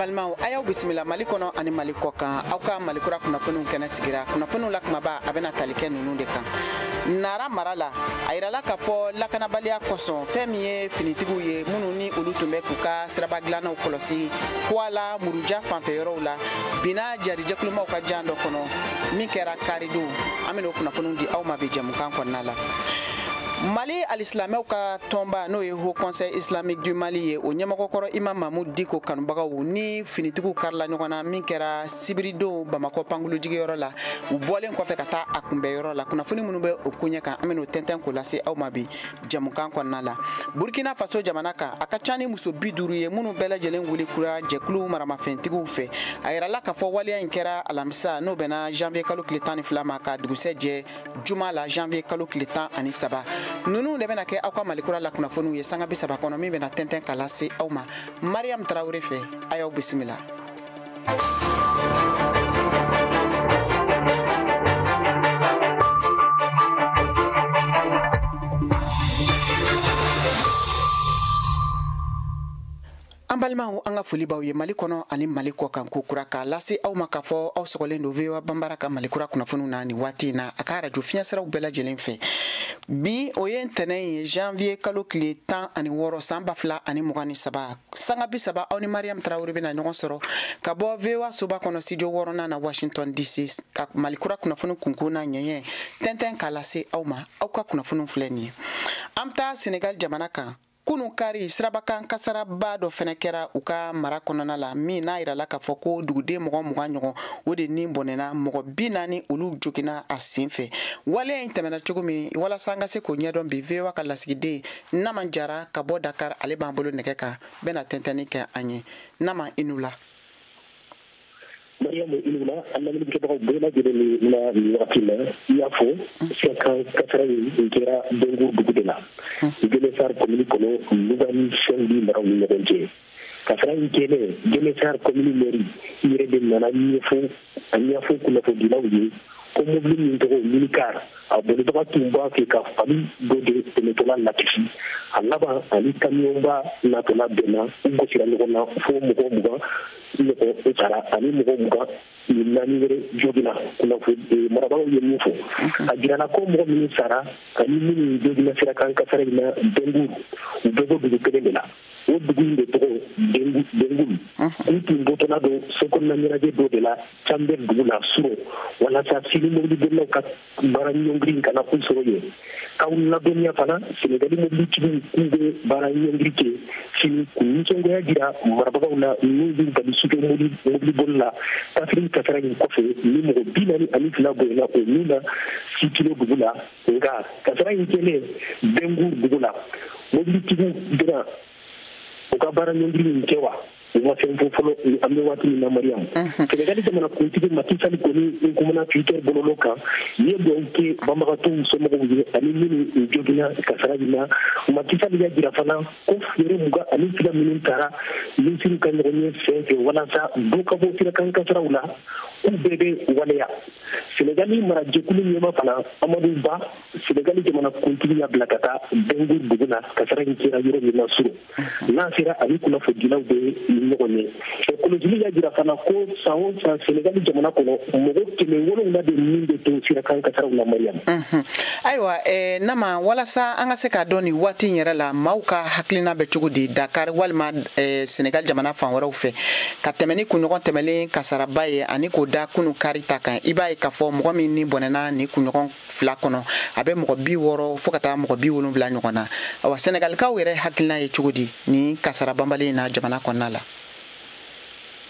balimaw a y'aw bisimila mali kɔnɔ ani mali kɔkan aw ka mali kura kunnafoniw kɛnɛ sigira kunnafoniw la kumaba a bɛna tali kɛ ninnu de kan nara mara la a yirala k'a fɔ lakanabaliya kosɔn fɛn min ye finitigiw ye minnu ni olu tun bɛ k'u ka siraba dilannaw kɔlɔsi kuala muruja fanfɛ yɔrɔw la binna jarijɛkulumaw ka jan dɔ kɔnɔ min kɛra karidon an bɛna o kunnafoniw di aw ma bi jɛmukan kɔnɔna la mali alisilamɛw ka tɔnba n'o ye haut conseil islamique du mali ye o ɲɛmɔgɔ kɔrɔ imam mahmoud diko kanubagaw ni finitigiw karila ɲɔgɔn na min kɛra sibiridon bamakɔ pankulujigiyɔrɔ la u bɔlen kɔfɛ ka taa a kunbɛnyɔrɔ la kunnafoni minnu bɛ o koɲɛ kan an bɛn'o tɛntɛn k'o lase aw ma bi jɛmukan kɔnɔna la burkina faso jamana kan a ka ca ni muso bi duuru ye minnu bɛɛ lajɛlen wuli kura jɛkulu maramafɛntigiw fɛ a yirala k'a fɔ waleya in kɛra alamisa n'o bɛnna janvier kalo tile tan ni fila ma ka dugusɛjɛ juma la janvier kalo tile tan ani saba ninnu de bɛna kɛ aw ka malikura la kunnafoniw ye sanga bi saba kɔnɔ min bɛna tɛntɛn ka lase aw ma mariyamu tarawele fɛ a y'aw bisimila an balimaw an ka foli b'aw ye mali kɔnɔ ani mali kɔkan ko kura k'a lase aw ma k'a fɔ aw sɔgɔlen don voa banbara ka mali kura kunnafoniw na nin waati na a ka arajo fiɲɛsiraw bɛɛ lajɛlen fɛ bi o ye ntɛnɛn ye janvier kalo tile tan ani wɔɔrɔ san ba fila ani mugan ni saba sanga bi saba aw ni mariam tarawele bɛna ɲɔgɔn sɔrɔ ka bɔ voa soba kɔnɔ studio wɔɔrɔnan na washington dc ka mali kura kunnafoni kunkun n'a ɲɛɲɛ tɛntɛn k'a lase aw ma aw ka kunnafoniw filɛ nin ye an bɛ taa senegal jamana kan kunu kari sirabakan kasaraba dɔ fɛnɛ kɛra u ka mara kɔnɔna la min n'a yirala k'a fɔ ko duguden mɔgɔ mugan ɲɔgɔn o de ni bɔnɛna mɔgɔ bi naani olu jogina a sen fɛ waleya in tɛmɛna cogo min walasa an ka se k'o ɲɛdɔn bi voa ka lasigiden naman jara ka bɔ dakar ale b'an bolo nɛgɛ kan bɛna tɛntɛnni kɛ an ye naman i ni wula mariyamu i ni wula an lamɛnnikɛbagaw bɛɛ lajɛlen ni na nin wagati la i y'a fɔ sira kan kasara in kɛra bengu dugu de la ngueune sarr komini kɔnɔ louga ni saint-louis maraw ni ɲɔgɔn cɛ kasara in kɛlen ngueune sarr komini mɛri yɛrɛ de nana ɲɛfɔ a ɲɛfɔ kunnafonidilaw ye ko mobili min tɔgɔ minikar a bolibaga tun b'a fɛ ka fali dɔ de tɛmɛtɔla lakisi a laban ani kamiyɔnba natɔla bɛnna u gosira ɲɔgɔn na fo mɔgɔ mugan ɲɔgɔn sara ani mɔgɔ mugan ni naani wɛrɛ jogina kunnafoni marabagaw ye min fɔ a jirana ko mɔgɔ minnu sara ani minnu jogina sira kan kasara in na bengu u bɛɛ bɔ dugu kelen de la o dugu in de tɔgɔ bɛngur k'u tun bɔtɔla don sokɔnɔna ɲɛnajɛ dɔ de la canbɛr dugu la surɔ walasa sini mobilibolilaw ka baara ɲɔngiri kana u sɔrɔ yen k'aw ladɔnniya fana senegali mobilitigiw k'u bɛ baara ɲɔngiri kɛ sini k'u nisɔngoya jira marabagaw la n'u b'u bali sufɛ mobiliboli la kaffrine kasara in kɔfɛ ni mɔgɔ bi naani ani fila bɔnɛna o min na sikilo dugu la nka kasara in kɛlen bɛngur dugu la mobilitigiw bɛna u ka baara ɲɔngiri in kɛ wa u ma fɛn fɔ fɔlɔ an bɛ waati min na mariyamu sɛnɛgali jamana kuntigi maki sali kɔni n kumana twitter bɔlɔlɔ kan ye dugawu kɛ banbagatɔw somɔgɔw ye ani minnu jogina kasara in na maki sali y'a jira fana ko fɛɛrɛ mugan ani fila minnu tara minisiriw ka ɲɔgɔnye senfɛ walasa dɔ ka bɔ sirakan kasaraw la k'u bɛɛ bɛ waleya sɛnɛgali marajɛkulu ɲɛmaa fana amadu ba sɛnɛgali jamana kuntigi y'a bila ka taa bɛngur dugu la kasara in kɛra yɔrɔ min na surɔ n'a sera ani kunnafonidilaw bɛ ɲɔgɔn ye kɔlɔsili y'a jira fana ko san o san sɛnɛgali jamana kɔnɔ mɔgɔ kɛmɛ wolonwula de min bɛ to sirakan kasaraw la mariyamu ayiwa eh, nama walasa an ka se k'a dɔn nin waati in yɛrɛ la maaw ka hakilina bɛ cogo di dakari walima eh, sɛnɛgali jamana fan wɛrɛw fɛ ka tɛmɛ ni kunɲɔgɔn tɛmɛlen kasaraba ye ani k'o da kunu kari ta kan i b'a ye k'a fɔ mɔgɔ minnu bɔnɛna nin kunɲɔgɔn fila kɔnɔ a bɛ mɔgɔ bi wɔɔrɔ fo ka taa mɔgɔ bi wolonwula ɲɔgɔn na awa sɛnɛgalikaw yɛrɛ hakilina ye cogo di nin kasara banbali in na jamana kɔnɔna la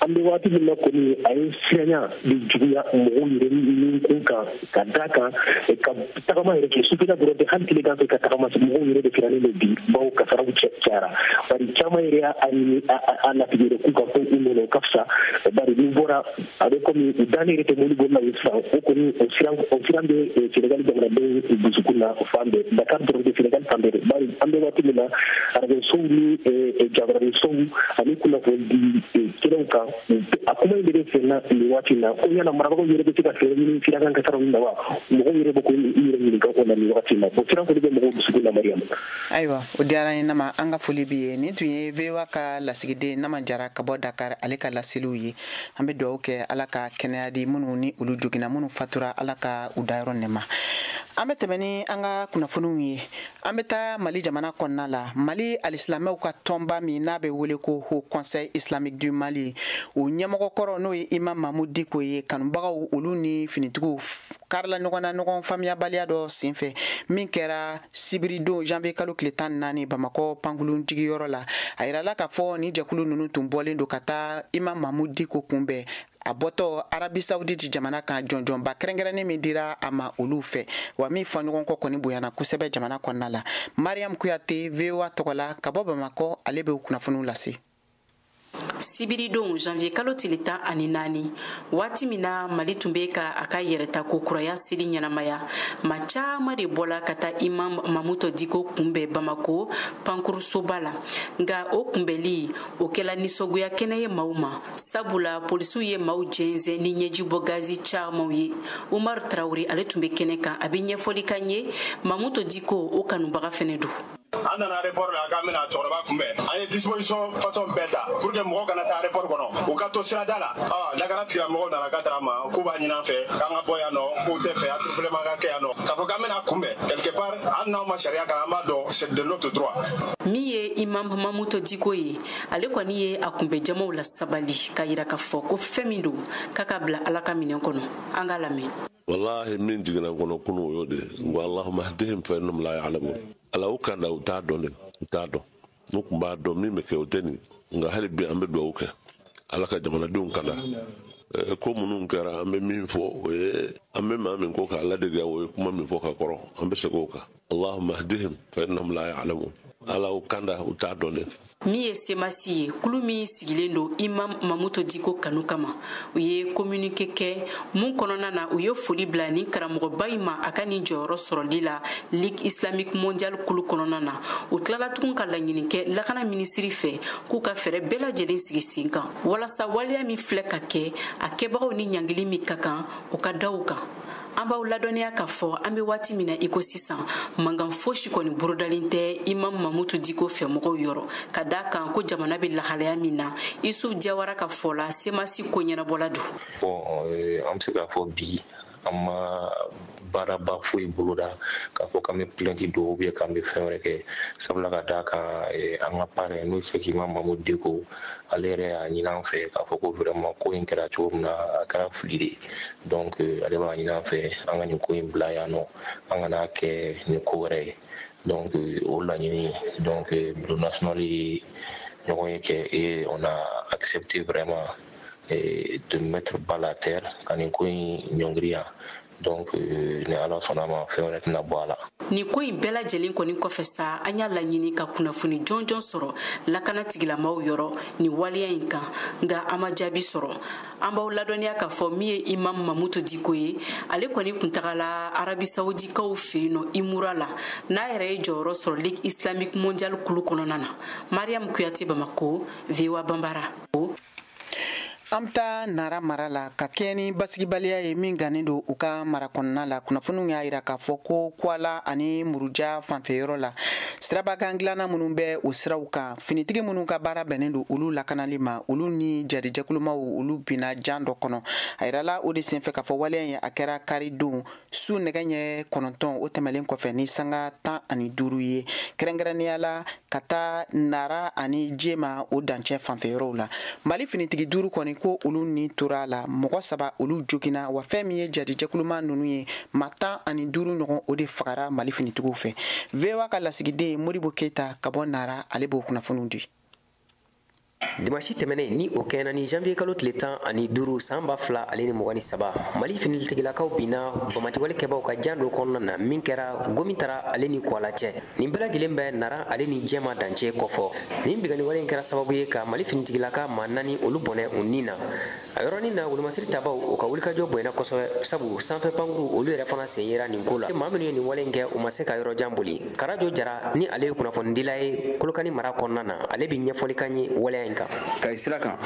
an bɛ waati min na kɔni a ye siranya de juguya mɔgɔw yɛrɛ ni kun kan ka da kan eh, ka tagama yɛrɛ kɛ sufɛla dɔrɔn tɛ hali tilegan fɛ ka tagama mɔgɔw yɛrɛ de sirannen don bi bawo kasaraw cayara bari caman yɛrɛ y'a ɲini a latigɛ yɛrɛ k'u ka to u nɔ na o ka fisa bari n'u bɔra a bɛ komi u dalen yɛrɛ tɛ mobilibolilaw ye sisan o kɔni o siran o siran bɛ eh, senegali jamanadenw dusukun na fan bɛɛ dakar dɔrɔn tɛ senegali fan bɛɛ de bari an bɛ waati min na arajosow ni eh, jabaraninsow ani kunnafonidi kɛnɛw kan a kuma in de bɛ senna nin waati in na ko yala marabagaw yɛrɛ bɛ se ka fɛɛrɛ ɲini sirakan kasaraw nin na wa mɔgɔw yɛrɛ bɛ k'u yɛrɛ ɲininka o la nin wagati in na bon siran kɔni bɛ mɔgɔw dusukun na mariyamu ayiwa o diyara an ye nama an ka foli b'i ye nin tun ye voa ka lasigiden nama jara ka bɔ dakar ale ka laseliw ye an bɛ dugawu kɛ ala ka kɛnɛya di minnu ni olu jogina minnu fatura ala ka u dayɔrɔ nɛɛma an bɛ tɛmɛ ni an ka kunnafoniw ye an bɛ taa mali jamana kɔnɔna la mali alisilamɛw ka tɔnba min n'a bɛ wele ko haut conseil islamique du mali o ɲɛmɔgɔ kɔrɔ n'o ye imam mamudu diko ye kanubagaw olu ni finitigiw karila ɲɔgɔn na ɲɔgɔn faamuyabaliya dɔ senfɛ min kɛra sibiridon janvier kalo tile tan ni naani bamakɔ pankulun jigiyɔrɔ la a yirala k'a fɔ nin jɛkulu ninnu tun bɔlen don ka taa imam mamudu diko kunbɛn a bɔtɔ arabi sauditi jamana kan jɔnjɔnba kɛrɛnkɛrɛnnen min dira a ma olu fɛ wa min fɔɲɔgɔnkɔ kɔni bonyana kosɛbɛ jamana kɔnɔna la mariam kuyate voa tɔgɔla ka bɔ bamakɔ ale bɛ kunnafoniw lase sibiridon janvier kalo tile tan ani naani waati min na mali tun bɛ ka a ka yɛrɛtako kuraya seli ɲɛnamaya maa caman de bɔla ka taa imam mamudu diko kunbɛn bamakɔ pankurunsoba la nka o kunbɛnli o kɛla nisɔngoya kɛnɛ ye maaw ma sabula polisiw ye maaw jɛnsɛn ni ɲɛjibɔ gazi camanw ye umar traoré ale tun bɛ kɛnɛ kan a bɛ ɲɛfɔli k'an ye mamudu diko o kanubaga fɛnɛ don an nana aéroport la k'an bɛna cɛkɔrɔba kunbɛn an ye disposition façon bɛɛ ta pour que mɔgɔw kana taa aéroport kɔnɔ u ka to sirada la lakana tigilamɔgɔw nana ka tara ma k'u b'a ɲini an fɛ k'an ka bɔ yan nɔ k'u tɛ fɛ attroupement ka kɛ yan nɔ k'a fɔ k'an bɛn'a kunbɛn quelque part hali n'anw ma sariya kalan an b'a dɔn c'est de notre droit min ye imam mamudu diko ye ale kɔni ye a kunbɛn jamaw lasabali k'a yira k'a fɔ ko fɛn min don k'a k'a bila ala ka minɛn kɔnɔ an k'a lamɛn walahi min jiginna n kɔnɔ kunu o y'o de ye wa allahumma hdihim fa innahum la ya'lamun ala u kanda u t'a dɔn de u t'a dɔn n'u tun b'a dɔn min bɛ kɛ o tɛ nin nka hali bi an bɛ dugawu kɛ ala ka jamanadenw kanda eh, ko minnu kɛra an bɛ min fɔ o ye an bɛ maa min ko k'a ladege o ye kuma min fɔ ka kɔrɔ an bɛ segin o kan allahumma hdihim fa innahum la ya'lamun ala u kanda u t'a dɔn de min ye semasi ye kulu min sigilen don imam mamudu diko kanu kama u ye communiqué kɛ min kɔnɔna na u ye foli bila nin karamɔgɔba in ma a ka nin jɔyɔrɔ sɔrɔli la ligue islamique mondiale kulu kɔnɔna na u tilala tugun ka laɲini kɛ lakana minisiri fɛ k'u ka fɛɛrɛ bɛɛ lajɛlen sigi sen kan walasa waleya min filɛ ka kɛ a kɛbagaw ni ɲangili min ka kan u k'a da u kan an b'aw ladɔnniya k'a fɔ an be waati min na i ko sisan mankan fosi kɔni bolodalen tɛ imam mamudu diko fɛ mɔgɔw yɔrɔ ka d'a kan ko jamana be lahalaya min na isuf jawara ka fɔ la semasi koɲɛnabɔla don bon eh, an be se k'a fɔ bi an ma baaraba foyi boloda k'a fɔ k'an be plainte don ou bien k'an be fɛn wɛrɛ kɛ sabula ka d'a kan eh, an ka parrain n'o ye cheikh imam mamudu diko ale yɛrɛ y'a ɲini an fɛ k'a fɔ ko vraiment ko in kɛra cogo min na a kɛra fili de donc euh, ale b'a ɲini an fɛ an ka nin ko in bila yan nɔ an kan'a kɛ nin ko wɛrɛ ye donc euh, o laɲini donc euh, bureau national ye ɲɔgɔnye kɛ et on a accepté vraiment de mettre balle à terre ka nin ko in ɲɔngiri yan donc euh, ni ala sɔnna ma fɛn wɛrɛ tɛna bɔ a la nin ko in bɛɛ lajɛlen kɔni kɔfɛ sa an y'a laɲini ka kunnafoni jɔnjɔn sɔrɔ lakana tigilamaaw yɔrɔ nin waleya in kan nka an ma jaabi sɔrɔ an b'aw ladɔnniya k'a fɔ min ye imam mamudu diko ye ale kɔni kun tagala arabi sawudikaw fɛ yen nɔ imura la n'a yɛrɛ ye jɔyɔrɔ sɔrɔ ligue islamique mondiale kulu kɔnɔna na mariam kuyate bamako voa banbara an bɛ taa nara mara la ka kɛɲɛ ni basigibaliya ye min gannen don u ka mara kɔnɔna la kunnafoniw y'a jira k'a fɔ ko kuala ani muruja fanfɛyɔrɔ la siraba kan dilanna minnu bɛ o siraw kan finitigi minnu ka baara bɛnnen don olu lakanali ma olu ni jadi jɛkulumaw olu binna jan dɔ kɔnɔ a yirala o de senfɛ k'a fɔ waleya in a kɛra karidon su nɛgɛ ɲɛ kɔnɔntɔn o tɛmɛlen kɔfɛ ni sanga tan ani duuru ye kɛrɛnkɛrɛnnenya la ka taa nara ani jema o dancɛ fanfɛyɔrɔw la mali finitigi duuru kɔni ko olu ni tora a la mɔgɔ saba olu joginna wa fɛn min ye jadi jɛkuluma ninnu ye ma tan ani duuru ɲɔgɔn o de fagara mali finitigiw fɛ voa ka lasigiden modibo keyita ka bɔ nara ale b'o kunnafoniw di dimansi tɛmɛnen ni o kɛɲɛna ni janvier kalo tile tan ani duuru san ba fila ale ni mugan ni saba mali finitigilakaw binna banbaanciwale kɛbaw ka jan dɔ kɔnɔna na min kɛra gomi tara ale ni kuala cɛ nin bɛɛ lajɛlen bɛ nara ale ni jɛma dancɛ kɔfɔ nin binkanniwale in kɛra sababu ye ka mali finitigilaka ma naani olu bɔnɛ u ni na a yɔrɔnin na wolomasiri tabaw u ka wulikajɔ bonyana kosɛbɛ sabu sanfɛ pankuru olu yɛrɛ fana sen yera nin ko la maa minnu ye nin wale kɛ u ma se ka yɔrɔ jan boli karajo jara ni ale ye kunnafonidila ye kolokani mara kɔnɔna na ale bɛ ɲɛfɔli k'an ye waleya in kan kayi sira kan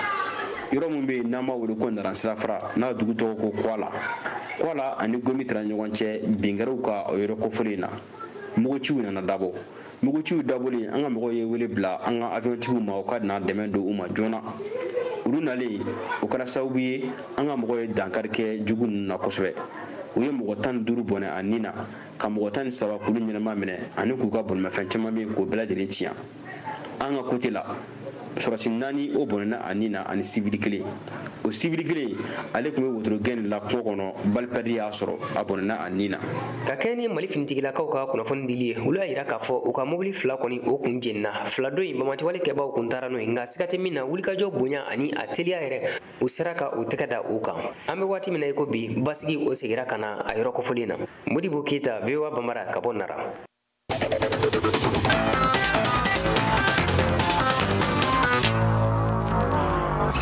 yɔrɔ min bɛ yen n'an b'a wele ko nara sirafara n'a dugu tɔgɔ ko kwala kwala ani gomi tara ɲɔgɔn cɛ bin kɛr'u kan o yɔrɔ kofɔlen na muguciw nana dabɔ muguciw dabɔlen an ka mɔgɔw ye wele bila an ka aviyɔntigiw ma u ka na dɛmɛ don u ma joona olu nalen o kɛra sababu ye an ka mɔgɔw ye dankari kɛ jugu ninnu na kosɛbɛ u ye mɔgɔ tan ni duuru bɔnɛ a ni na ka mɔgɔ tan ni saba k'olu ɲɛnama minɛ ani k'u ka bolimafɛn caman bɛ yen k'o bɛɛ lajɛlen tiɲɛ an ka kote la sɔrasi naani o bɔnɛna a ni na ani sivili kelen o sivili kelen ale tun bɛ wotoro gɛn de la kungo kɔnɔ balipɛridi y'a sɔrɔ a bɔnɛna a ni na ka kɛɲɛ ni mali finitigilakaw ka kunnafoni dili ye olu y'a yira k'a fɔ u ka mobili fila kɔni o kun jenina fila dɔ in banbaanciwale kɛbaaw kun taara n'o ye nka siga tɛ min na wulikajɔ bonya ani a teliya yɛrɛ u sera ka u tɛgɛ da u kan an bɛ waati min na i ko bi basigi o segira ka na a yɔrɔ kofɔlen na modibo keyita voa banbara ka bɔ nara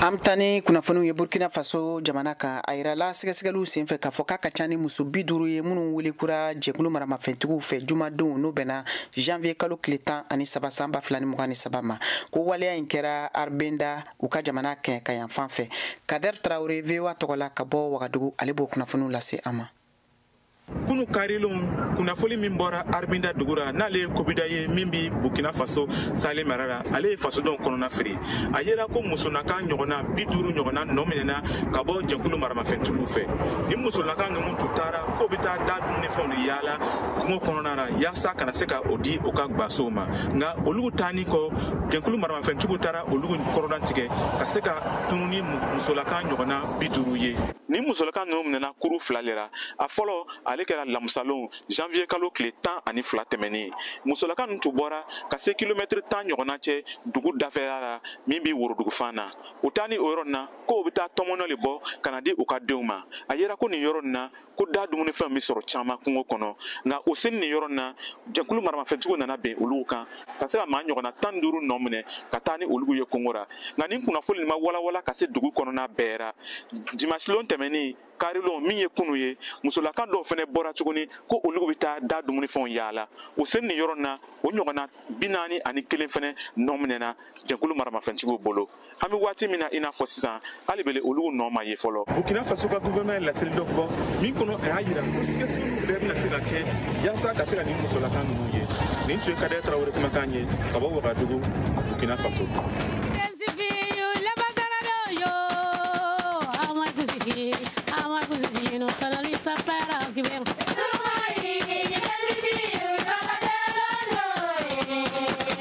an bɛ taa ni kunnafoniw ye burkina faso jamana kan a yirala sɛgɛsɛgɛliw senfɛ k'a fɔ k'a ka ca ni muso bi duuru ye minnu welekura jɛkulu maramafɛntigiw fɛ jumadon n'o bɛnna janvier kalo tile tan ani saba san ba fila ni mugan ni saba ma ko waleya in kɛra arbinda u ka jamana kɛɲɛkayanfan fɛ kader tarawele voa tɔgɔ la ka bɔ wagadugu ale b'o kunnafoniw lase an ma kunu karilon kunnafoli min bɔra arbinda dugu ra n'ale ye kobida ye min bi burkina faso sahel mara ra ale ye fasodenw kɔnɔna firi a yera ko musolaka ɲɔgɔnna bi duuru ɲɔgɔnna nɔ minɛna ka bɔ jɛkulu maramafɛntigiw fɛ ni musolaka ninnu tun taara k'o bɛ taa da dumunifɛnw le yaala kungo kɔnɔna na yaasa ka na se ka o di o ka gbasow ma nka olugu taani kɔ jɛkulu maramafɛntigiw taara olugu kɔrɔdan tigɛ ka se ka tunu ni musolaka ɲɔgɔnna bi duuru ye ni musolaka ninnu minɛna kuru fila le ra a fɔlɔ ale kɛra lamusalon janvier kalo tile tan ani fila tɛmɛnen musolaka ninnu tun bɔra ka se kilomɛtiri tan ɲɔgɔnna cɛ dugu dafɛra ra min bɛ worodugu fan na o taani o yɔrɔ nin na ko u bɛ taa tɔmɔnɔ le bɔ ka na di u ka denw ma a yera ko nin yɔrɔ nin na ko da dumunifɛnw bɛ sɔrɔ caman kungo kɔnɔ nka o seni nin yɔrɔ nin na jɛkulu maramafɛntigiw nana ben olugu kan ka se ka maa ɲɔgɔnna tan ni duuru nɔ minɛ ka taa ni olugu ye kongo ra nka nin kunnafoli nin ma walawala ka se dugu kɔnɔna bɛɛ ra dimasilon tɛmɛnen karilon min ye kunu ye musolaka dɔw fɛnɛ bɔra tuguni ko olugu bɛ taa da dumunifɛnw yaala o seni nin yɔrɔ na o ɲɔgɔnna bi naani ani kelen fɛnɛ nɔ minɛna jɛkulu maramafɛntigiw bolo an bɛ waati min na i n'a fɔ sisan hali bele olugu nɔ ma ye fɔlɔ burkina faso ka guvɛrɛnɛman ye laseli dɔ bɔ min kɔnɔ a y'a yira ko sɛgɛsɛgɛliw bɛɛ bɛna se ka kɛ yaasa ka se ka nin musolaka ninnu ye nin tun ye kader tarawere kumakan ye ka bɔ wagadugu burkina faso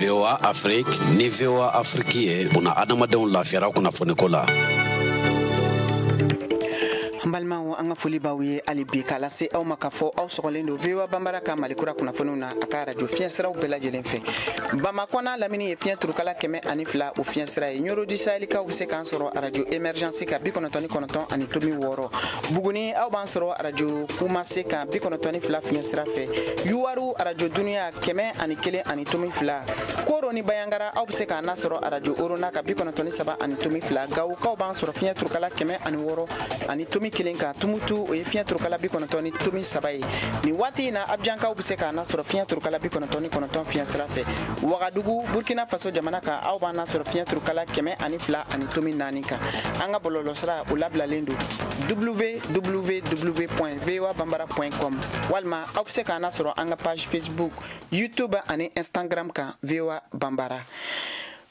VOA Afrique ni VOA Afrique ye bunadamadenw lafiyara kunnafoniko la an balimaw an ka foli b'aw ye hali bi k'a lase aw ma k'a fɔ aw sɔgɔlen don voa banbara ka malikura kunnafoniw na a ka arajo fiɲɛ siraw bɛɛ lajɛlen fɛ bamakɔ n'a lamini ye fiɲɛ turukala kɛmɛ ani fila o fiɲɛ sira ye ɲɔrɔn du sahelikaw be se k'an sɔrɔ arajo emergence kan bi kɔnɔtɔn ni kɔnɔtɔn ani tomi wɔɔrɔ buguni aw b'an sɔrɔ arajo kumase kan bi kɔnɔtɔn ni fila fiɲɛ sira fɛ yuwaru arajo duniya kɛmɛ ani kelen ani tomi fila koro ni banjagara aw be se k'an nasɔrɔ arajo orona kan bi kɔnɔtɔn ni saba ani tomi fila gawukaw b'an sɔrɔ fiɲɛ turukala kɛmɛ ani wɔɔrɔ ani tomi kelen kan tumutu o ye fiɲɛ turukala bi kɔnɔtɔn ni tomi saba ye nin waati in na abijankaw be se k'an nasɔrɔ fiɲɛ turukala bi kɔnɔtɔn ni kɔnɔtɔn fiɲɛ sira fɛ wagadugu burkina faso jamana kan aw b'an nasɔrɔ fiɲɛ turukala kɛmɛ ani fila ani tomi naani kan an ka bɔlɔlɔsira o labilalen don www voa banbara com walima aw be se k'an nasɔrɔ an ka page facebook youtube ani instagram kan voa banbara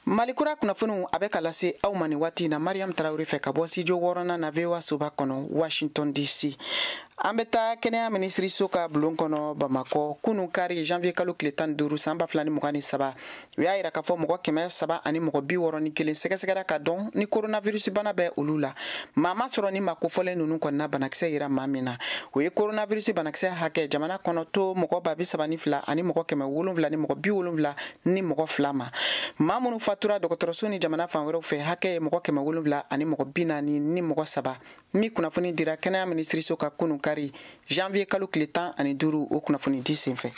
mali kura kunnafoniw a bɛ ka lase aw ma nin waati na mariam tarawere fɛ ka bɔ studio wɔɔrɔnan na voa soba kɔnɔ washington dc an bɛ taa kɛnɛya minisiriso ka bulon kɔnɔ bamakɔ kunu kari janvier kalo tile tan duuru san ba fila ni mugan ni saba u y'a yira k'a fɔ mɔgɔ kɛmɛ saba ani mɔgɔ bi wɔrɔ ni kelen sɛgɛsɛgɛra k'a dɔn ni coronavirus bana bɛ olu la maa ma sɔrɔ nin maa kofɔlen ninnu kɔnɔna banakisɛ yera maa min na o ye coronavirus banakisɛ hakɛ jamana kɔnɔ to mɔgɔ ba bi saba ni fila ani mɔgɔ kɛmɛ wolonwula ni mɔgɔ bi wolonwula ni mɔgɔ fila ma maa minnu fatura dɔgɔtɔrɔso ni jamana fan wɛrɛw fɛ hakɛ ye mɔgɔ kɛmɛ wolonwula ani mɔgɔ bi naani ni mɔgɔ saba nin kunnafoni dira kɛnɛya minisiriso ka kunu kari janvier kalo tile tan ani duuru o kunnafoni di senfɛ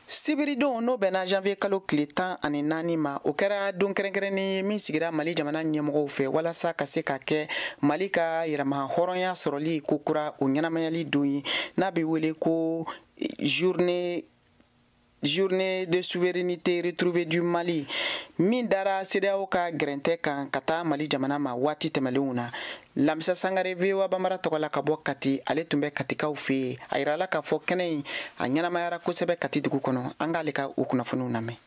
sibiridon n'o bɛnna janvier kalo tile tan ani naani ma o kɛra don kɛrɛnkɛrɛnnen ye min sigira mali jamana ɲɛmɔgɔw fɛ walasa ka se ka kɛ mali ka yɛrɛmahɔrɔnya sɔrɔli kokura o ɲɛnamayali don ye n'a bɛ wele ko journée journée de souveraineté retrouvée du Mali min dara CEDEAO ka gɛrɛntɛ kan ka taa Mali jamana ma waati tɛmɛlenw na Lamisa Sangare VOA Bambara tɔgɔ la ka bɔ Kati ale tun bɛ Katikaw fɛ yen a yirala k'a fɔ kɛnɛ in a ɲɛnamayara kosɛbɛ Kati dugu kɔnɔ an k'ale ka o kunnafoniw lamɛn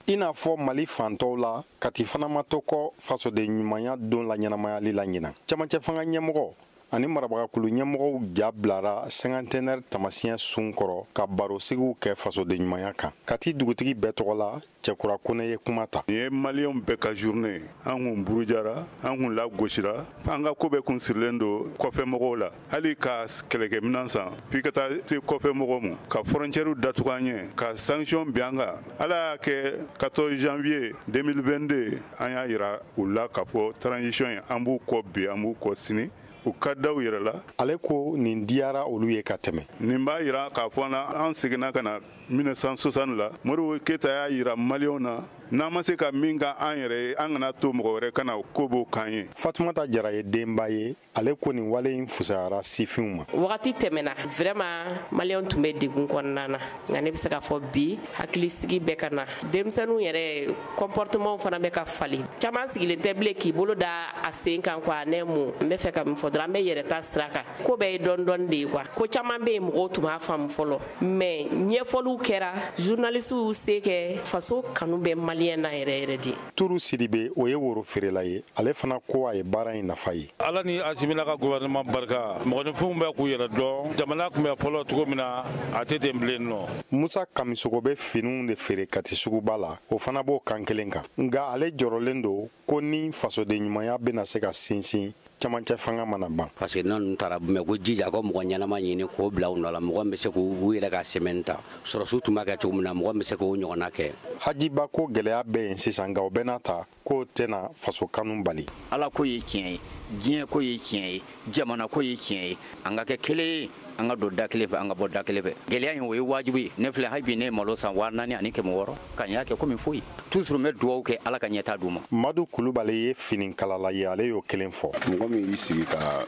i n'a fɔ mali fan tɔw la kati fana ma to kɔ fasodenɲumanya don laɲɛnamayali la ɲinan camancɛ fanga ɲɛmɔgɔ ani marabagakulu ɲɛmɔgɔw ja bilara cinquantenaire taamasiyɛn sun kɔrɔ ka barosigiw kɛ fasodenɲumanya kan kati dugutigi bɛɛ tɔgɔ la cɛkura kone ye kuma ta nin ye maliyɛnw bɛɛ ka journée an kun burujara an kun lagosira an ka ko bɛɛ kun sirilen don kɔfɛ mɔgɔw la hali ka kɛlɛkɛminan san f'i ka taa se kɔfɛ mɔgɔw ma ka frontières datugu an ɲɛ ka sanction bin an kan ala y'a kɛ 14 janvier 2022 an y'a yira u la k'a fɔ transition ye an b'u kɔ bi an b'u kɔ sini u ka da u yɛrɛ la ale ko nin diyara olu ye ka tɛmɛ nin b'a yira k'a fɔ na an seginna ka na 1960 la modibo keyita y'a yira maliyɛnw na n'an ma se ka min kɛ an yɛrɛ ye an kan'a to mɔgɔ wɛrɛ ka na ko b'o k'an ye fatumata jara ye denba ye ale ko nin wale in fusayara sifinw ma wagati tɛmɛna vraiment maliyɛnw tun bɛ degun kɔnɔna na nka ne bɛ se k'a fɔ bi hakilisigi bɛ ka na denmisɛnninw yɛrɛ comportements fana bɛ ka falen caman sigilen tɛ bilen k'i bolo da a sen kan quoi ne mun n bɛ fɛ ka min fɔ dɔrɔn an bɛ yɛrɛ ta sira kan ko bɛɛ ye dɔɔni dɔɔni de ye quoi ko caman bɛ yen mɔgɔw tun m'a faamu fɔlɔ mais ɲɛfɔliw kɛra journalistes y'u se kɛ faso kanu bɛ maliyɛn na yɛrɛ yɛrɛ de turu sidibe o ye woro feerela ye ale fana ko a ye baara in nafa ye ala ni asimi n'a ka gouvernement barika mɔgɔninfinw bɛ k'u yɛrɛ dɔn jamana tun bɛ fɔlɔ cogo min na a tɛ ten bilen non musa kamisogo bɛ finiw de feere kati suguba la o fana b'o kan kelen kan nka ale jɔrɔlen don ko ni fasodenɲumanya bɛna se ka sinsin camancɛ fanga mana ban parce que n'u taara mɛ k'u jija ka mɔgɔ ɲɛnama ɲini k'o bila u nɔ la mɔgɔ bɛ se k'u yɛrɛ ka sɛmɛni ta sɔrɔsiw tun b'a kɛ cogo min na mɔgɔ bɛ se k'o ɲɔgɔnna kɛ hajiba ko gɛlɛya bɛ yen sisan nka o bɛɛ n'a ta k'o tɛna faso kanu bali ala ko ye tiɲɛ ye diɲɛ ko ye tiɲɛ ye jamana ko ye tiɲɛ ye an ka kɛ kelen ye an ka don da kelen fɛ an ka bɔ da kelen fɛ gɛlɛya in o ye wajibi ye ne filɛ hali bi ne ye malo san waa naani ani kɛmɛ wɔɔrɔ nka n y'a kɛ komi foyi toujours n bɛ dugawu kɛ ala ka ɲɛtaa d'u ma madu kulubali ye finikalala ye ale y'o kelen fɔ mɔgɔ min y'i sigi ka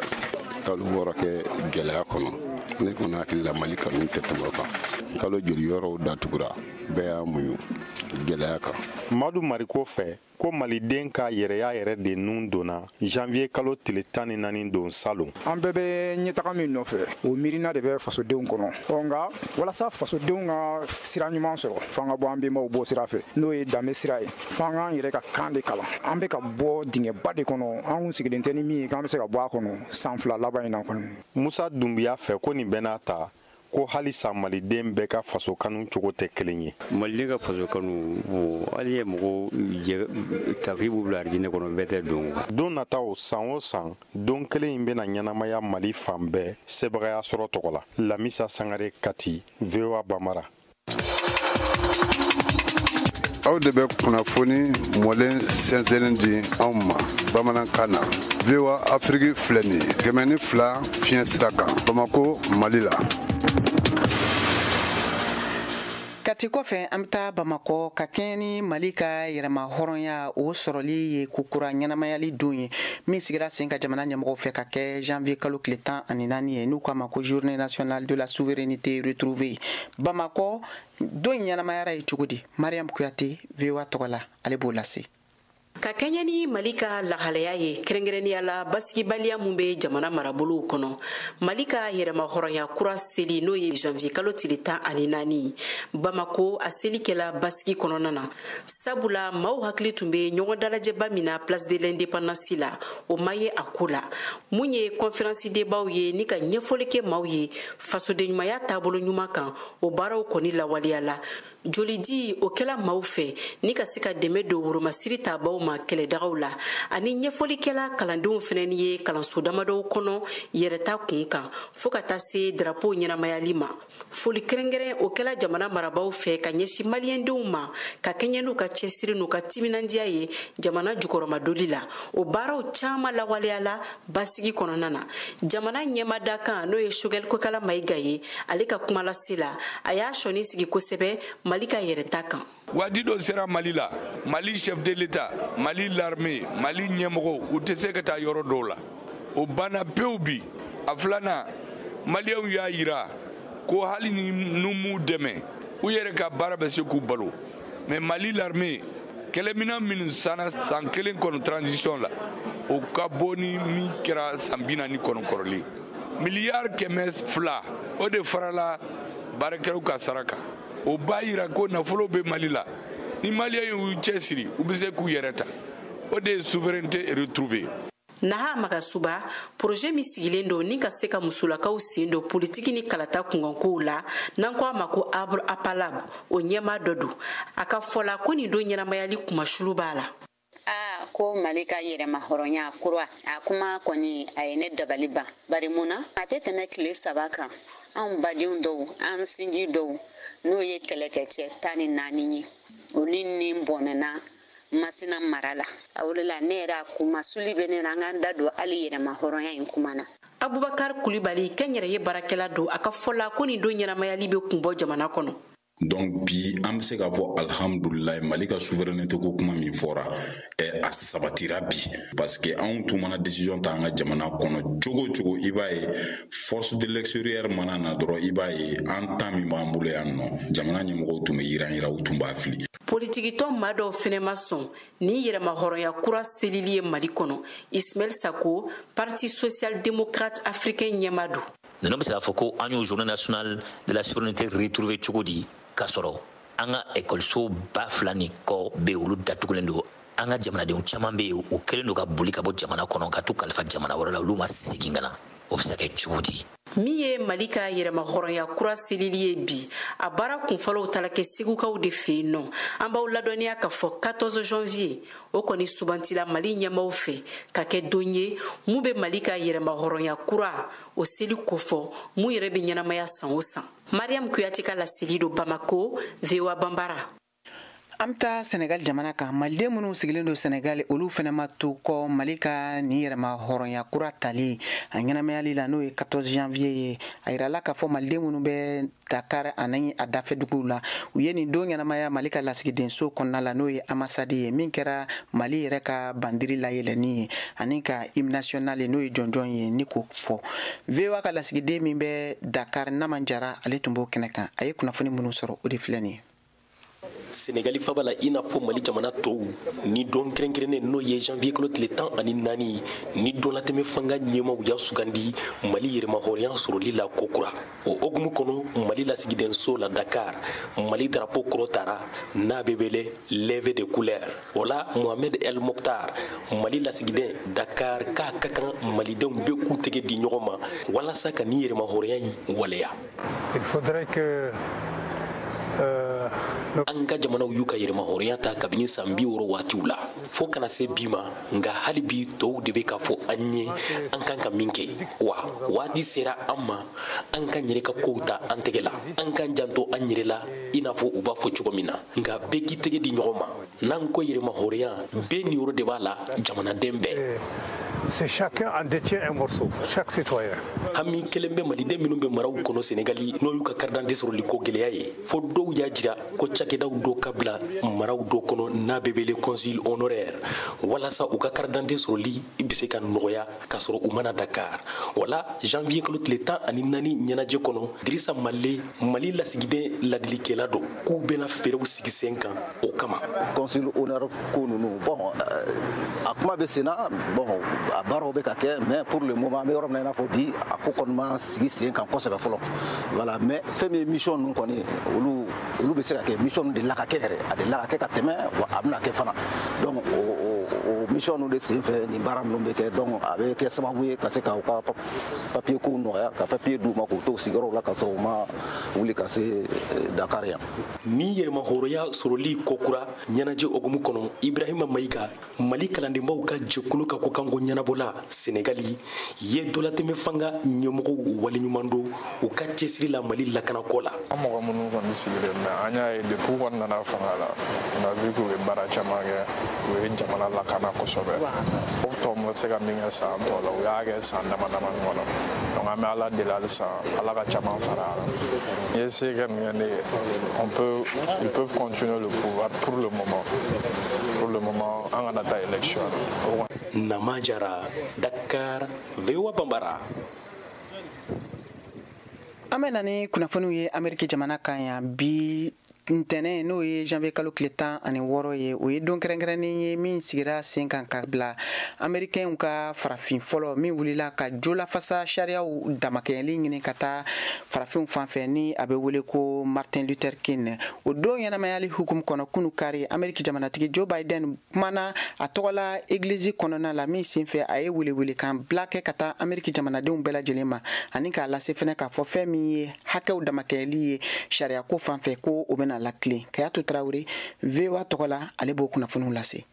kalo wɔɔrɔ kɛ gɛlɛya kɔnɔ ne kɔni hakili la mali kanu tɛ tɛmɛ o kan kalo joli yɔrɔw datugura bɛɛ y'a muɲu gɛlɛya kan madu mariko fɛ ko maliden ka yɛrɛya yɛrɛ de nun donna janvier kalo tile tan ni naani don salon an bɛɛ bɛ ɲɛtaga min nɔfɛ o miirina de bɛ fasodenw kɔnɔ ɔ nka walasa fasodenw ka sira ɲuman sɔrɔ f'an ka bɔ an bɛnbaw bɔ sira fɛ n'o ye danbe sira ye f'an k'an yɛrɛ ka kan de kalan an bɛ ka bɔ dingɛba de kɔnɔ an kun sigilen tɛ ni min ye k'an bɛ se ka bɔ a kɔnɔ san fila laban in na kɔni musa dunbiya fɛ ko nin bɛɛ n'a ta ko halisa maliden bɛɛ ka faso kanu cogo tɛ kelen ye maliden ka faso kanu hali i ye mɔgɔ ta k'i b'u bila arijinɛ kɔnɔ bɛɛ tɛ don don nataw san o san don kelen in bɛna ɲɛnamaya mali fan bɛɛ sebagaya sɔrɔ tɔgɔ la lamisa sangare kati voa bambara aw de bɛ kunnafoni mɔlen sɛnsɛnnen di anw ma bamanankan na voa afiriki filɛ nin ye kɛmɛ ni fila fiɲɛ sira kan bamako mali la kati kɔfɛ an bɛ taa bamakɔ ka kɛɲɛ ni mali ka yɛrɛma hɔrɔnya o sɔrɔli ye kokura ɲɛnamayali don ye min sigira sen kan jamana ɲɛmɔgɔw fɛ ka kɛ janvier kalo tile tan ani naani ye n'u k'a ma ko journée nationale de la souveraineté retrouvée bamakɔ don in ɲɛnamayara yen cogo di mariam kuyate voa tɔgɔ la ale b'o lase ka kɛɲɛ ni mali ka lahalaya ye kɛrɛnkɛrɛnnenya la basigibaliya min bɛ jamana marabolow kɔnɔ mali ka yɛrɛmahɔrɔnya kura seli n'o ye janvier kalo tile tan ani naani bamako a seli kɛla basigi kɔnɔna na sabula maaw hakili tun bɛ ɲɔgɔn dalajɛba min na place de l'indépendance la o ma ye a ko la mun ye kɔnferansi debaw ye ni ka ɲɛfɔli kɛ maaw ye fasodenɲumanya taabolo ɲuman kan o baaraw kɔni lawaleyala jolidi o kɛla maaw fɛ ni ka se ka dɛmɛ don woromasiri taabaw ma kɛlɛdagaw la ani ɲɛfɔli kɛla kalandenw fɛnɛ ni ye kalanso damadɔw kɔnɔ yɛrɛta kun kan fɔɔ ka taa se darapo ɲɛnamayali ma foli kɛrɛnkɛrɛn o kɛla jamana marabaw fɛ ka ɲɛsin maliyɛndenw ma ka kɛɲɛ n'u ka cɛsiri n'u ka timinandiya ye jamana jukɔrɔmadoli la o baaraw caaman lawaleyala basigi kɔnɔna na jamana ɲɛma dankan n'o ye sogɛli kokala mayiga ye ale ka kuma lase la a y'a sɔnin sigi kosɛbɛ mali ka yɛrɛta kan waati dɔ sera mali la mali chef de l'état mali l'armée mali ɲɛmɔgɔw u tɛ se ka taa yɔrɔ dɔw la o banna pewu bi a filanan maliyɛnw y'a yira ko hali ni n'u m'u dɛmɛ u yɛrɛ ka baara bɛ se k'u balo mais mali l'armée kɛlɛminan minnu sanna san kelen kɔnɔ transition la o ka bon ni min kɛra san bi naani kɔnɔ kɔrɔlen miliyari kɛmɛ fila o de farala baarakɛlaw ka sara kan o b'a yira ko nafolo bɛ mali la ni maliyɛn y'u cɛsiri u bɛ se k'u yɛrɛ ta o de ye souveraineté retrouvée naha magasuba poroze min sigilen don ni ka se ka musolakaw sen don politiki ni kalata kunkankow la n'an ko a ma ko arbre à palabre o ɲɛma dɔ don a ka fɔla ko nin don ɲɛnamayali kunmasuli b'a la aa ko mali ka yɛrɛmahɔrɔnya kura a kuma kɔni a ye ne dabali ban bari mun na a tɛ tɛmɛ tile saba kan anw badenw dɔw an sinji dɔw n'o ye kɛlɛkɛcɛ tan ni naani ye olu ni bɔnɛna masina mara la a o de la ne yɛrɛ a kunmasuli bɛ ne na an k'an da don hali yɛrɛmahɔrɔnya in kuma na abubakar kulibali kɛnyɛrɛye baarakɛla don a ka fɔla ko nin don ɲɛnamayali bɛ kun bɔ jamana kɔnɔ donc bi an be se k'a fɔ alhamdulilayi mali ka souveraineté ko kuma min fɔra ɛ a sabatira bi parce que anw tun mana décision ta an ka jamana kɔnɔ cogo cogo i b'a ye force de l'extérieur mana na dɔrɔn i b'a ye an ta min b'an bolo yan nɔ jamana ɲɛmɔgɔw tun be yiranyiran u tun b'a fili politikitɔn maa dɔw fɛnɛ ma sɔn ni yɛrɛmahɔrɔnya kura selili ye mali kɔnɔ ismail sako parti social démocrate africain ɲɛma don ninnu bɛ se k'a fɔ ko an y'o journée nationale de la souveraineté retrouvée cogo di k'a sɔrɔ an ka ekɔliso ba fila ni kɔ bɛ olu datugulen don an ka jamanadenw caman bɛ yen u kɛlen don ka boli ka bɔ jamana kɔnɔ ka t'u kalifa jamana wɛrɛ la olu ma segin ka na o bɛ se ka kɛ cogo di min ye mali ka yɛrɛmahɔrɔnya kura selili ye bi a baara kunfɔlɔw taala kɛ segukaw de fɛ yen nɔ an b'aw ladɔnniya k'a fɔ 14 janvier o kɔni subantila mali ɲɛmaw fɛ ka kɛ don ye mun bɛ mali ka yɛrɛmahɔrɔnya kura o seli kofɔ mun yɛrɛ bɛ ɲɛnamaya san o san mariam kuyate ka laseli don bamako voa bambara an bɛ taa sɛnɛgali jamana kan maliden minnu sigilen don sɛnɛgali olu fɛnɛ ma to kɔ mali ka nin yɛrɛmahɔrɔnya kura tali a ɲɛnamayali la n'o ye 14 janvier ye a yirala k'a fɔ maliden minnu bɛ dakar ani a dafɛ duguw la u ye nin don ɲɛnamaya mali ka lasigidenso kɔnɔna la n'o ye ambassade ye min kɛra mali yɛrɛ ka bandiri layɛlɛni ye ani ka hymne national ye n'o ye jɔnjɔn ye ni k'o fɔ voa ka lasigiden min bɛ dakar naman jara ale tun b'o kɛnɛ kan a ye kunnafoni minnu sɔrɔ o de filɛ nin ye senegali faaba la i n'a fɔ mali jamana tɔw ni don kɛrɛnkɛrɛnnen n'o ye janvier kalo tile tan ani naani ni donlatɛmɛ fanga ɲɛmaw y'a sugandi mali yɛrɛmahɔrɔnya sɔrɔli la kokura o hokumu kɔnɔ mali lasigidenso la dakar mali darapo kɔrɔtara n'a bɛ wele levée de couleur o la mohamed el moktar mali lasigiden dakar k'a ka kan malidenw bɛɛ k'u tɛgɛ di ɲɔgɔn ma walasa ka ni yɛrɛmahɔrɔnya in waleya Il faudrait que euh, an ka jamanaw y'u ka yɛrɛmahɔrɔnya ta kabini san bi wɔɔrɔ waatiw la fo ka na se bi ma nka hali bi tɔw de bɛ k'a fɔ an ye an kan ka min kɛ wa waati sera an ma an ka yɛrɛ ka kow ta an tɛgɛ la an k'an janto an yɛrɛ la i n'a fɔ u b'a fɔ cogo min na nka bɛɛ k'i tɛgɛ di ɲɔgɔn ma n'an ko yɛrɛmahɔrɔnya bɛɛ niyɔrɔ de b'a la jamanaden bɛɛ eh, c'est chacun en détient un morceau chaque citoyen hami kelen bɛ maliden minnu bɛ maraw kɔnɔ senegali n'o y'u ka karidante sɔrɔli ko gɛlɛya ye fo dɔw y'a jira ko cakɛdaw dɔ ka bila maraw dɔ kɔnɔ n'a bɛ wele consul honoraire walasa u ka karidante sɔrɔli bɛ se ka nɔgɔya k'a sɔrɔ u ma na dakar wala janvier kalo tile tan ani naani ɲɛnajɛ kɔnɔ dirisa male mali lasigiden ladilikɛla dɔ k'u bɛna fɛɛrɛw sigi sen kan o kama consul honoraire ko nunu bon euh, a kuma bɛ senna bon a baaraw bɛ ka kɛ mais pour le moment an bɛ yɔrɔ min na i n'a fɔ bi a ko kɔni ma sigi sen kan kosɛbɛ fɔlɔ voilà mais fɛn min ye mission ninnu kɔni olu olu bɛ se ka kɛ mission ninnu dela ka kɛ yɛrɛ a dela ka kɛ ka tɛmɛ wa a bɛna kɛ fana donc o mission ninnu de sen fɛ nin baara ninnu bɛ kɛ donc a bɛ kɛ sababu ye ka se ka u ka papier kow nɔgɔya ka papier d'u ma k'u to sigiyɔrɔw la k'a sɔrɔ u ma wuli ka se eh, Dakar yan. Ni yɛrɛmahɔrɔnya sɔrɔli kokura ɲɛnajɛ hokumu kɔnɔ Ibrahima Mayiga mali kalandenbaw ka jɛkulu ka kokanko ɲɛnabɔla senegali ye donlatɛmɛ fanga ɲɛmɔgɔw waleɲuman dɔn u ka cɛsiri la mali lakanako la an mɔgɔ minnu kɔni sigilen bɛ an y'a ye depuis kɔni nana fanga la on a vu que u ye baara caman kɛ u ye jamana lakana kosɛbɛ o tɔw ma se ka min kɛ san tɔ la u y'a kɛ san dama dama ɲɔgɔn na donc an bɛ ala deli halisa ala ka caman fara a la n'i ye se kɛ nin kɛ ne ye on peut ils peuvent continuer le pouvoir pour le moment pour le moment an kana taa élection na nama jara dakar voa bambara an bɛ na ni kunnafoniw ye ameriki jamana kan yan bi ntɛnɛn n'o ye janvier kalo tile tan ani wɔɔrɔ ye o ye don kɛrɛnkɛrɛnnen ye min sigira sen kan ka bila amerikɛnw ka farafin fɔlɔ min wulila ka jo lafasa sariyaw damakɛɲɛli ɲini ka taa farafinw fan fɛ ni a bɛ wele ko martin luther king o don ɲɛnamayali hukumu kɔnɔ kunu kari ameriki jamanatigi joe biden kumana a tɔgɔla egilizi kɔnɔna la min senfɛ a ye welewelekan bila kɛ ka taa ameriki jamanadenw bɛɛ lajɛlen ma ani k'a lase fɛnɛ k'a fɔ fɛn min ye hakɛw damakɛɲɛli ye sariyako fan fɛ ko o bɛna latilen kayatu tarawele voa tɔgɔ la ale b'o kunnafoniw lase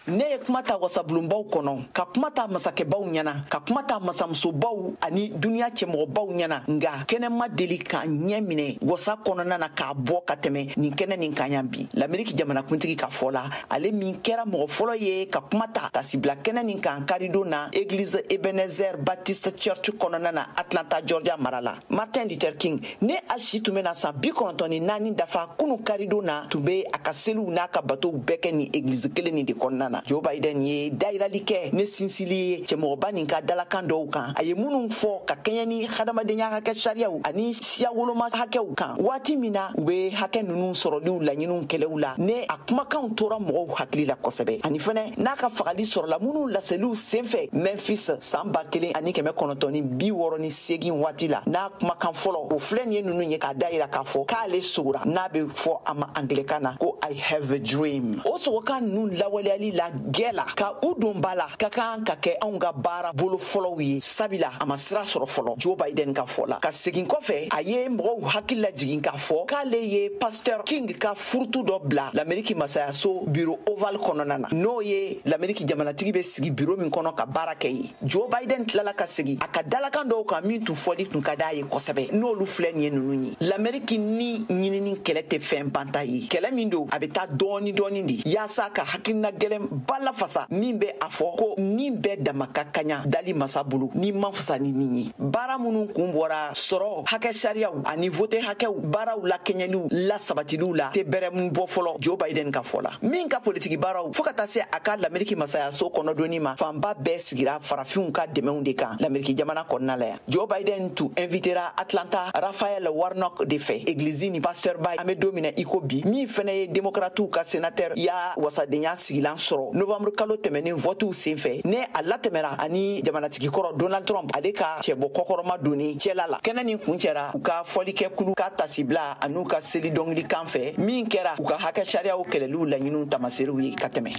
ne ye kuma ta wasabulonbaw kɔnɔ ka kuma ta masakɛbaw ɲɛna ka kuma ta masamusobaw ani duniɲa cɛmɔgɔbaw ɲɛna nga kɛnɛ ma deli ka n ɲɛ minɛ wasa kɔnɔna na k'a bɔ ka tɛmɛ nin kɛnɛ nin kan yan bi lameriki jamanakuntigi ka fɔ la ale min kɛra mɔgɔ fɔlɔ ye ka kuma ta tasibila kɛnɛ nin kan karidon na egilizi ebenezer baptist church kɔnɔna na atlanta georgia mara la martin luther king ni a si tun bɛna san bi kɔnɔntɔn ni naani dafa kunu karidon na tun be a ka seliw n'a ka batow bɛɛ kɛ nin egilizi kelen nin de kɔnɔna na joe biden ye dayirali kɛ ni sinsili ye cɛmɔgɔba nin ka dalakan dɔw kan a ye minnu fɔ ka kɛɲɛ ni hadamadenya hakɛ sariyaw ani siya woloma hakɛw kan waati min na u be hakɛ nunu sɔrɔliw laɲiniw kɛlɛw la ni a kumakanw tora mɔgɔw hakili la kosɛbɛ ani fɛnɛ n'a ka fagali sɔrɔla minnu laseliw senfɛ memphis san ba kelen ani kɛmɛ kɔnɔntɔn ni bi wɔɔrɔ ni segin waati la n'a kumakan fɔlɔ o filɛ nin ye ninnu ye k'a dayira k'a fɔ k'ale sogora n'a bɛ fɔ a ma angilɛkan na ko i have a dream o sogokan ninnu lawaleyali la gɛɛ la ka u don ba la ka kan ka kɛ anw ka baara bolo fɔlɔw ye sabila a ma sira sɔrɔ fɔlɔ joe biden ka fɔ la ka segin kɔfɛ a ye mɔgɔw hakili lajigin k'a fɔ k'ale ye pasteur king ka furutu dɔ bila lameriki masayaso biro oval kɔnɔna na n'o ye lameriki jamanatigi bɛ sigi biro min kɔnɔ ka baara kɛ ye joe biden tilala ka segi a ka dalakan dɔw kan min tun fɔli tun ka d'a ye kosɛbɛ n'olu filɛ nin ye nunu ye lameriki ni ɲinini kɛlɛ tɛ fɛn banta ye kɛlɛ min don a bɛ taa dɔɔni dɔɔni de yaasa ka hakilina gɛlɛn ba lafasa min bɛ a fɔ ko nin bɛɛ dama ka kaɲa dali masa bolo ni man fisa ni ni ye baara minnu kun bɔra sɔrɔ hakɛ sariyaw ani vote hakɛw baaraw lakɛɲɛliw lasabatiliw la tɛ bɛrɛmu bɔ fɔlɔ joe biden ka fɔ la min ka politiki baaraw fɔɔ ka taa se a ka lameriki masayaso kɔnɔdonni ma fanba bɛɛ sigira farafinw ka dɛmɛw de kan lameriki jamana kɔnɔna la yan joe biden tun invitera atlanta raphael warnock de fɛ egilizi nin pastɛrba an be don min na i ko bi min fɛnɛ ye demokratiw ka senatɛrya wasadenya sigilan sɔrɔ novamburu kalo tɛmɛnen vɔtiw senfɛ ni a latɛmɛra a ni jamanatigi kɔrɔ donald trump ale ka cɛbɔ kɔkɔrɔma donni cɛla la kɛnɛ nin kuncɛra u ka fɔlikɛkulu ka tasibila an'u ka seli dɔngili kan fɛ min kɛra u ka hakɛ sariyaw kɛlɛliw laɲiniw tamaserew ye ka tɛmɛ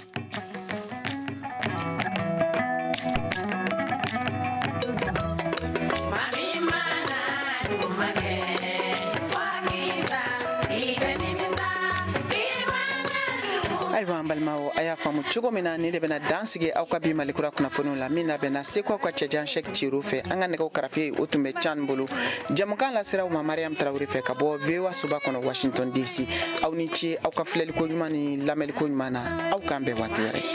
ayiwa an balimaw a y'a faamu cogo min na nin de bɛna dan sigi aw ka bi malikura kunnafoniw la min labɛnna seko aw ka cɛjan sɛk ciro fɛ an ka nɛgɛw karafe o tun bɛ can bolo jɛmukan lasera aw ma mariam tarawele fɛ ka bɔ voa soba kɔnɔ washington dc aw ni ce aw ka filɛliko ɲuman ni lamɛnliko ɲuman na aw k'an bɛn waati wɛrɛ